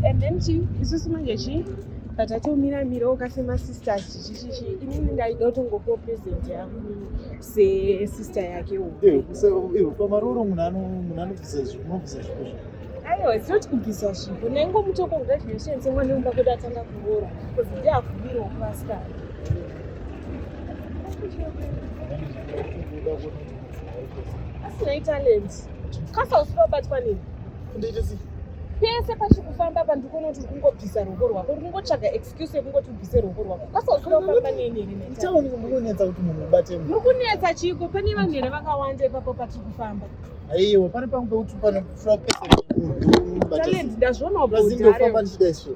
and then chi isusu manje chi patatomira mirawo kasema sisters chichichichi inini ndaida kutongopiwa present yangu sesister yake pamaroro munhu anobvisa zvinobvisa zvipo aiwa zinoti kubvisa zvipo naingo mutoko graduation semwana wemba kwedu atanga kuroora bcause ndiakubirawo kuvasikana asinei talent kasa usivabatwa nei pese pachikufamba apa ndikonoti uri kungobvisa ruoko rwako uri kungotsvaga excuse yekungoti ubvise ruoko rwako kasa usivabatwa neinerikunetsa kuti munhu ubate muri kunetsa chiiko pane vanhu here vakawanda ipapo patiri kufamba aiwa pane pangu pekuti panofura pese talent ndazvionawo bhozindofamba ndichida izvo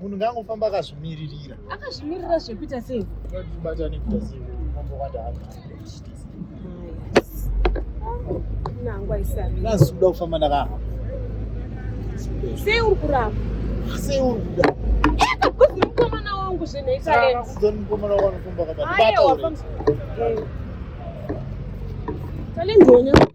munhu ngaangofamba akazvimiririra akazvimiririra zvekuita sei batane kuita sei mambo kwadaaka nazoda kufamba ndakahamba sei uri kuramba sei uri kuda mukomana wangu zvinoitamukomana wangu anofamba kabaaaiwa talendionya